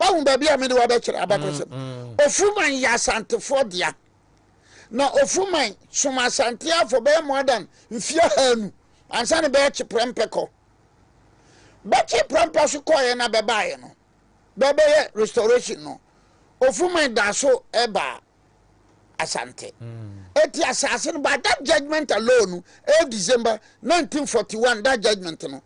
Wahu baabi a mede wo abɛkyerɛ abakɔsɛm. Ofuruman yɛ Asantefoɔ dea. Na Ofuruman som Asante afɔ bɛyɛ more than mfie ahaanu ansa na bɛyɛ Kyeprɛmpɛ kɔ. Bɛ Kyeprɛmpɛ so kɔeɛ na bɛbaeɛ no, bɛbɛyɛ restoration no, Ofuruman daa so baa Asante. Eti asase no, by that judgement alone, ɛyɛ December 1941, that judgement no,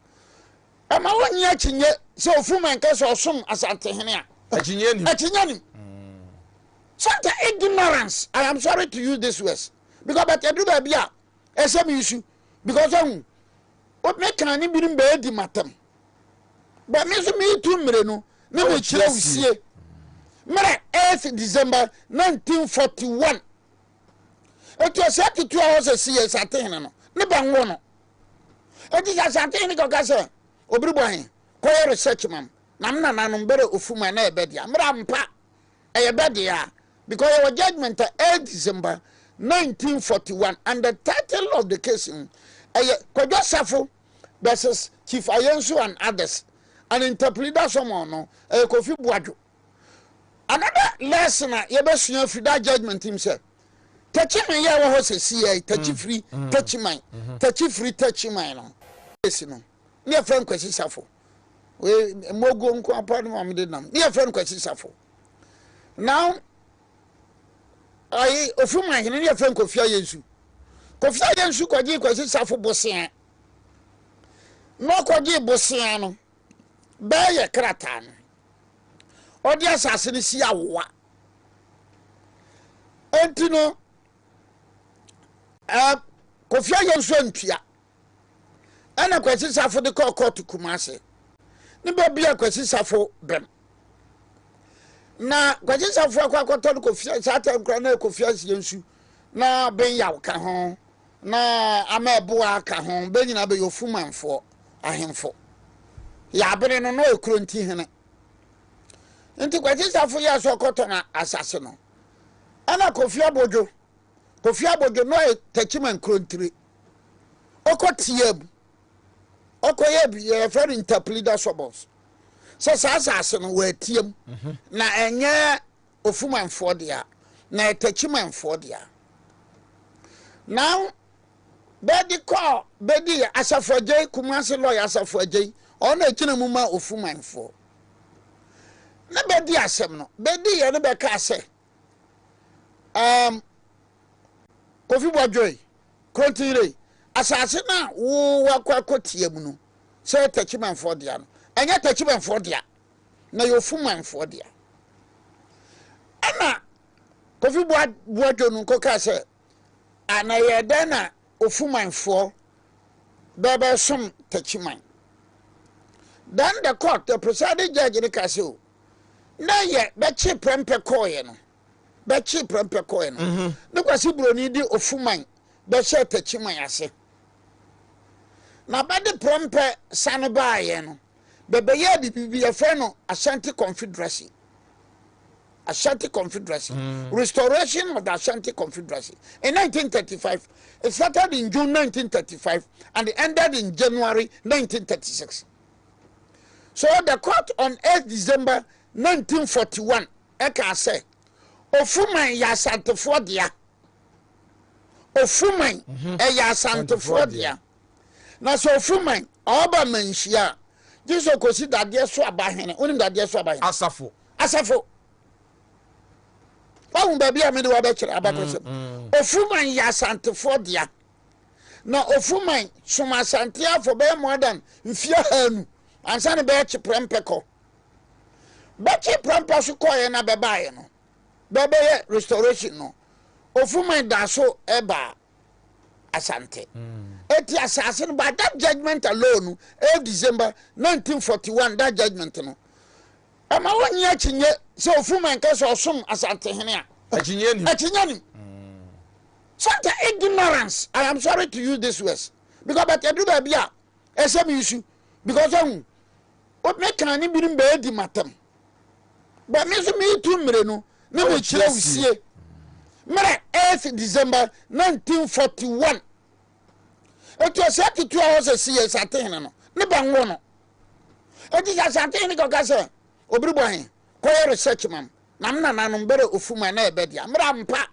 Ɛma wonnye akyinnye sɛ Ofuma nka sɛ ɔsom Asantehene a. Akyinnye nnim. Akyinnye nnim. Sometimes ignorance, I am sorry to use these words because but ɛduru baabi a ɛsɛ me nsu because ɔhu me kan ne binom bɛɛdi matam but me nso meetu mmere no ne mekyerɛ wo sie mmerɛ 8 December 1941 ɛtu ɔsɛ tutu a ɔsɛ si yɛ Asantehene no ne bɛnwo no Enti sɛ Asante Hene kɔka sɛ, Obiribɔ he, kɔyɛ research ma m, na me nananom bɛrɛ ofu mu a na ɛyɛ bɛ dea. Mmrɛ ampa, ɛyɛ bɛ dea, because yɛwɔ judgement a ɛyɛ December nineteen forty one, and the title of the case he, ɛyɛ Kwadwo Safo vs Chief Ayensu and others, and interpleader someone no, ɛyɛ Kofi Boadwo. Another lesson a yɛbɛsua afiri that judgment mu sɛ takyiman yɛ ɛwɔ hɔ sɛ si yɛ takyifiri takyiman takyifiri takyiman no esi no ne yɛfrɛ no kwasi safo mmoguo nko apa no a mede nam ne yɛfrɛ no kwasi safo now ayi ofiri man hene ne yɛfrɛ no kofia yɛ nsu kofia yɛ nsu kɔgye kwasi safo bosea na ɔkɔgye bosea no bɛyɛ krataa no ɔde asase no si awowa nti no ɛɛ eh, kofi ayɛ nso ntua ɛna kwasi safo de kɔɔ kɔɔto kuma ase ne baabi a kwasi safo bɛm na kwasi safo akɔ akɔtɔ no kofi saa tɛ nkora na kofi asie nsu na benyaw ka ho. Na ama ɛboɔ a aka ho, bɛ nyinaa bɛyɛ Ofumanfoɔ ahemfo. Yɛ abere no, na ɔyɛ Kuronti hene. Nti Kwasi Sarfo yɛɛ sɛ ɔkɔtɔn asase no. Ɛna Kofi Abodwo, Kofi Abodwo, na ɔyɛ Takyiman Kurontire. Ɔkɔ tiaa mu. Ɔkɔyɛɛ bi, yɛfrɛ no Ntaplida Suburbs. Sɛ saa asase no, wɔatia mu. Na ɛnyɛ Ofumanfoɔ dea, na ɛyɛ Techimanfoɔ dea. Na bɛde kɔ bɛdi yɛ Asafo Agyei, Kumasi Lɔya Asafo Agyei, ɔno na ɛgyina mu ma Ofumanfoɔ. Na bɛdi asɛm no, bɛdi yɛ no bɛkaa sɛ, um, Kofi Bɔdwoe, Krontinrei, asase no a wowakɔ akɔtia mu no, sɛ yɛ Techimanfoɔ dea no, ɛnyɛ Techimanfoɔ dea, na yɛ ofu manfoɔ dea ɛna kofi boa boa dwonu nko kaa sɛ a na yɛ dɛn na ofu manfoɔ bɛbɛ som takyi man then the court the presiding judge ne kaa sɛ o na yɛ bɛkye prɛmpɛ kɔɔyɛ no bɛkye prɛmpɛ kɔɔyɛ no mm-hmm. ne kwasi buroni de ofu man bɛhyɛ takyi man ase na bɛde prɛmpɛ sane baayɛ no bɛbɛyɛɛ biribi bi yɛfrɛ no Ashanti Confederacy. Ashanti Confederacy, mm. restoration of the Ashanti Confederacy in 1935. It started in June 1935 and it ended in January 1936. So the court on 8 December 1941 ɛka sɛ ofuman yɛ asantefoɔ dea ofuman ɛyɛ asantefoɔ dea. Na sɛ ɔfiri man ɔba manhyia a, gye sɛ ɔkɔsi dadeɛ so aba hene. Wonim dadeɛ so aba hene? Asafo. Asafo. Wahu baabi a mede wabɛkyerɛ abakɔsɛm. Mm, mm. Ofuruman yɛ asantefoɔ dea. Na ofuruman som asante afɔ bɛyɛ more than mfeɛ haanu ansa na bɛyɛ kyeprɛmpɛ kɔ. Bɛkye prɛmpɛ so kɔeɛ na bɛbaeɛ no, bɛbɛyɛ restoration no, ofuruman da so ɛbaa. Asante. Eti asase no by that judgement alone no ɛyɛ December nineteen forty one that judgement no ɛma wɔnye akyinye sɛ ofuma nka sɛ ɔsom Asante hene a akyinye nim akyinye nim santa ignorance I am sorry to use this words because but ɛdu baabi a ɛsɛ me nsu because ɛhu mɛka ne binom bɛɛ di matam Bɛ me nso meretu mmirenu ne me kyerɛwsie mmerɛ 8th December 1941. Enti ɔsɛ tutu a ɔsɛ si yɛ Asantehene no ne bɛ nwo no. Enti sɛ Asantehene kɔka sɛ obiri bɔ he kɔyɛ research mam na me nananom bɛrɛ ofu ma na ɛbɛ dea mmerɛ ampa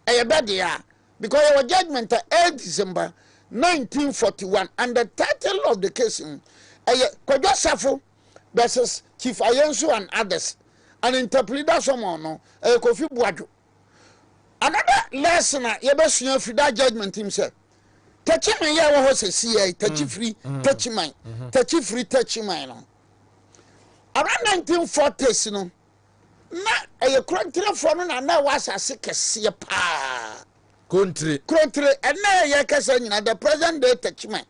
ɛyɛ bɛ dea because yɛwɔ judgement a 8th December 1941 and the title of the case ho ɛyɛ Kwadwo Safo Bɛses, Chief Ayensu and others and interpreter some on no ɛyɛ Kofi Boadwo. Another lesson a yɛbɛsua firi that judgment im sɛ Takyiman yɛ ɛwɔ hɔ sɛsiɛ yi, Takyifiri, Takyiman, Takyifiri, Takyiman no. Around 1940s no, na ɛyɛ Kurontirefoɔ no na na ɛwɔ asase kɛseɛ paa. Kurontire. Kurontire, ɛnna yɛkasa nyina the present day Takyiman.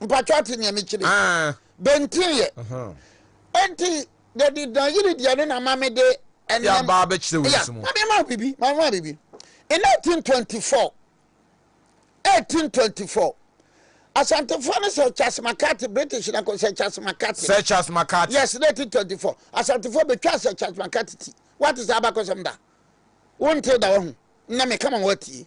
mpatwa ate nea mekyiri ah. bɛntiiɛ ɛnti dɛdi danyere deɛ no na ma me de ɛnam yɛ abaa bɛkyerɛ wɔ nsu mu maame ma bibi maame ma bibi in 1824 1824 asantefoɔ no sɛ charles mccarthy british na ko sɛ charles mccarthy sɛ charles mccarthy yes 1924 asantefoɔ bɛtwa sɛ charles mccarthy ti wate sɛ abakɔsɛm da wonte da wahu na meka ma woatie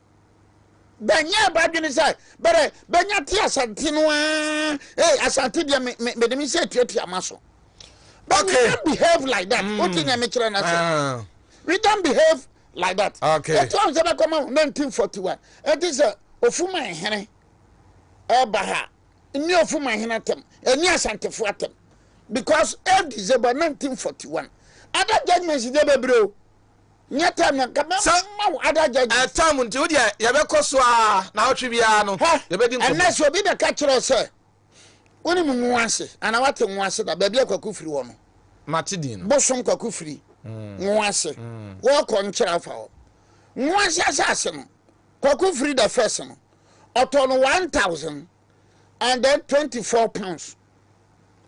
bɛnyɛɛ bɛadwene sɛ bɛrɛ bɛnya te asante no ara hey asante deɛ me me mede me nsa atuatua ma so but okay. we don't behave like that mm. wote nea mekyerɛ no ase ah. we don't behave like that okay. ɛti ɔn sɛ bɛkɔma 1941 ɛti sɛ ofuma hene ɛba ha ne ofuma hene atɛm ɛne asantefo atɛm because 8 december 1941 other judgments de bɛbrɛ o Nyɛ tam na nka mɛma wo ada judges. Sɛ ɛtam nti wo deɛ yɛbɛkɔ so a na awɔtwe biara no yɛbɛdi nkɔmɔ. Ɛnɛ sɛ obi bɛka kyerɛ wo sɛ wonim Nwase anaa woate Nwase da baabi a Kwaku firi hɔ no. Mate din no. Bosom Kwaku firi Nwase. Wɔkɔ nkyerɛ afa hɔ. Nwase asase no Kwaku firi the first no ɔtɔ no one thousand and then twenty four pounds.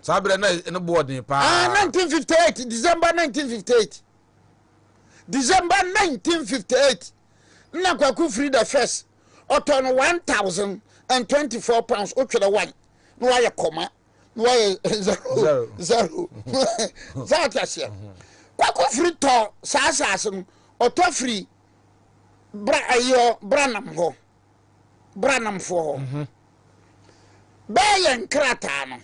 Saa berɛ na ɛno boɔ den paa. Ah, nineteen fifty eight December nineteen fifty eight. December nineteen fifty eight na Kwaku Firi the first ɔtɔ no one thousand and twenty four pounds wotwerɛ one na wayɛ kɔma na wayɛ zero zero sɛ ate aseɛ Kwaku Firi tɔ saa asase no ɔtɔ firi bra ayɔ branam hɔ branamfoɔ hɔ bɛɛ yɛ nkrataa no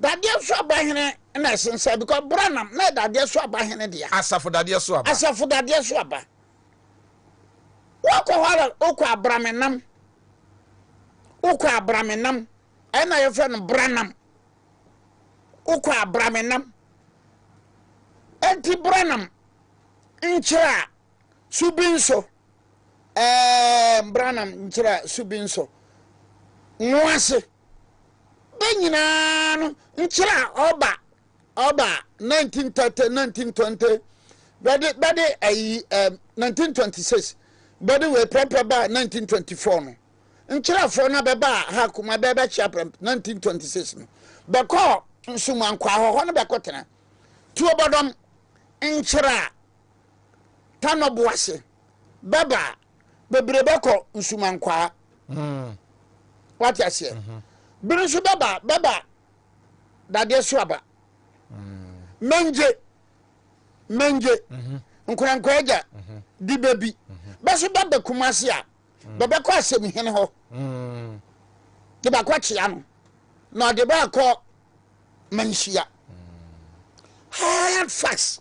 Dadeɛ so aba hene na ɛsen sɛ because Branham na yɛ dadeɛ so aba hene dea. Asafo dadeɛ so aba. Asafo dadeɛ so aba. Wokɔ hɔ ara wokɔ abramenam. Wokɔ abramenam. Ɛna yɛfrɛ no Branham. Wokɔ abramenam. Enti Branham nkyerɛ a so bi nso. Ɛɛ Branham nkyerɛ a so bi nso. Nwo ase. bɛ nyinaa no nkyerɛ a ɔba ɔba nineteen thirty nineteen twenty bɛde bɛde ayi ɛm nineteen twenty six bɛde wei pɛrɛmpɛ ba nineteen twenty four no nkyerɛfoɔ na bɛba ha kuma bɛɛ bɛkyia pɛrɛmpɛ nineteen twenty six no bɛkɔ nsumankwa ahɔhɔ no bɛkɔ tena tuo bɔdɔm nkyerɛ a tanɔbo ase. bɛba a bebree bɛkɔ nsumankwaa wate aseɛ bere nso bɛba bɛba dadeɛ so aba mangye mangye nkorankorɛ agya di bɛbi bɛso bɛba kuma ase a bɛbɛkɔ asɛm hene hɔ de bakɔ kyea no na ɔde baakɔ manhyia hard facts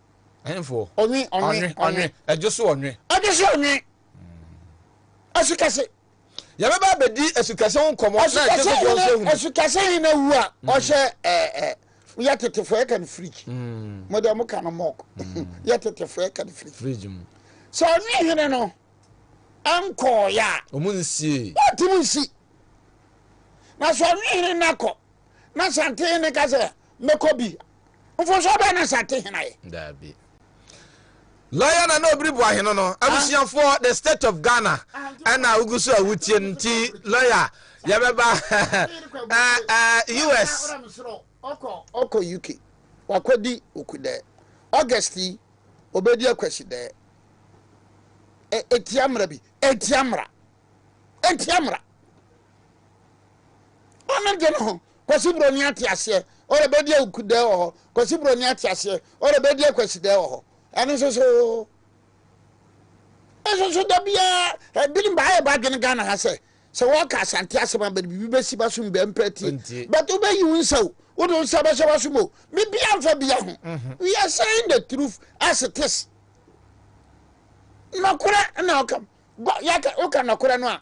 Ɛnfo. Ɔnwe, ɔnwe, ɔnwe. Ɛdwo so ɔnwe. Ɛdwo so ɔnwe. Asukɛse. Yɛbɛba abɛdi asukɛse ho nkɔmmɔ. Asukɛse hene asukɛse hene wu a mm. ɔhyɛ ɛɛ ɛɛ yɛ tetefo yɛ kan fridge. Mm. Mo deɛ mo ka no mɔk. Mm. Yɛ tetefo yɛ kan fridge. Fridge mu. Sɛ ɔnwe hene no ɛnkɔɔyɛ a. Ɔmo nsie. Ɔtum nsi. Na sɛ ɔnwe hene no akɔ na sante hene ka sɛ mɛkɔ bi. Mfomsoɔ bɛn na Asante hene ayɛ? Daabi. Lawyer na na obiri boa hene no. Abusuafoɔ the state of Ghana ɛna wogu so a wotie no nti lawyer yɛbɛba ɛɛ US. Ɔkɔ ɔkɔ UK wakɔdi okudɛɛ August yi obedi akwasidɛɛ ɛtia mmara bi ɛtia mmara ɛtia mmara. Ɔno de no ho. Kwasi Broni ate aseɛ. Ɔrɛ bɛdi awukudɛ wɔ hɔ. Kwasi Broni ate aseɛ. Ɔrɛ bɛdi akwasidɛ wɔ hɔ. Ɛno nso so. Nso so da biara ebinom ba ayɛ badwene Ghana ha sɛ sɛ wɔka asante asɛm a bɛde biribi bɛsi ba so mbɛ mpɛ tie. Nti. But wobɛyi wo nsa o. Wode wo nsa bɛhyɛ w'asom o. Biribiara mfa bia ho. We are saying the truth as it is. Nɔkorɛ na ɔkam. Gɔ yɛka woka nɔkorɛ no a.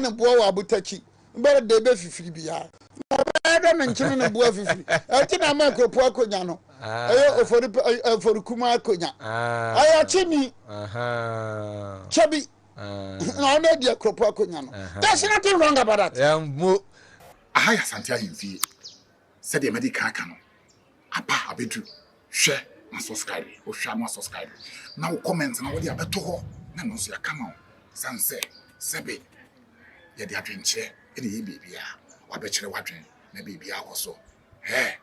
ne boɔ wɔ abotakyi bɛrɛ dɛ bɛ fifiri biara na ɔbɛyɛ dɛ ne nkyene ne boɔ afifiri ɛnti na ama akuapua akonya no ɛyɛ ofori ɛfori kuma akonya ɛyɛ ɔkyeni kyɛ bi na ɔno adi akuapua akonya no there's nothing wrong about that. Aha yɛ Asante ahemfie. Sɛdeɛ madi kan aka no, aba abɛdu, hwɛ m'asɔskraibe, wohwɛ a na woasɔskraibe, na wo kɔmɛnt no wode abɛto hɔ, na ɛno nso yɛaka ama wo, ɛsiane sɛ sɛbe yɛde adwenkyerɛ na ɛyɛ biribiara, wabɛkyerɛ w'adwene, na biribiara kɔ so, hɛ,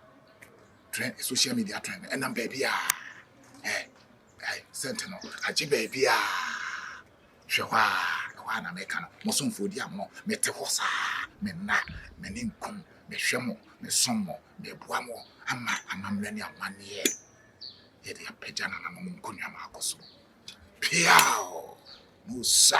trend, social media trend no ɛnam baabiara, hɛ. Ai, sɛnte no, agye baabi a. Hwɛ hɔ a, ɛhɔ a na meka no, mo somfoɔ di amono, mete hɔ saa, me nna, m'ani nkum, mehwɛ mo, mesom mo, meboa mo, ama amammerɛ ne amanneɛ yɛ de apagya nananom nkonnwa mu akɔ soro. Peaw! Musa!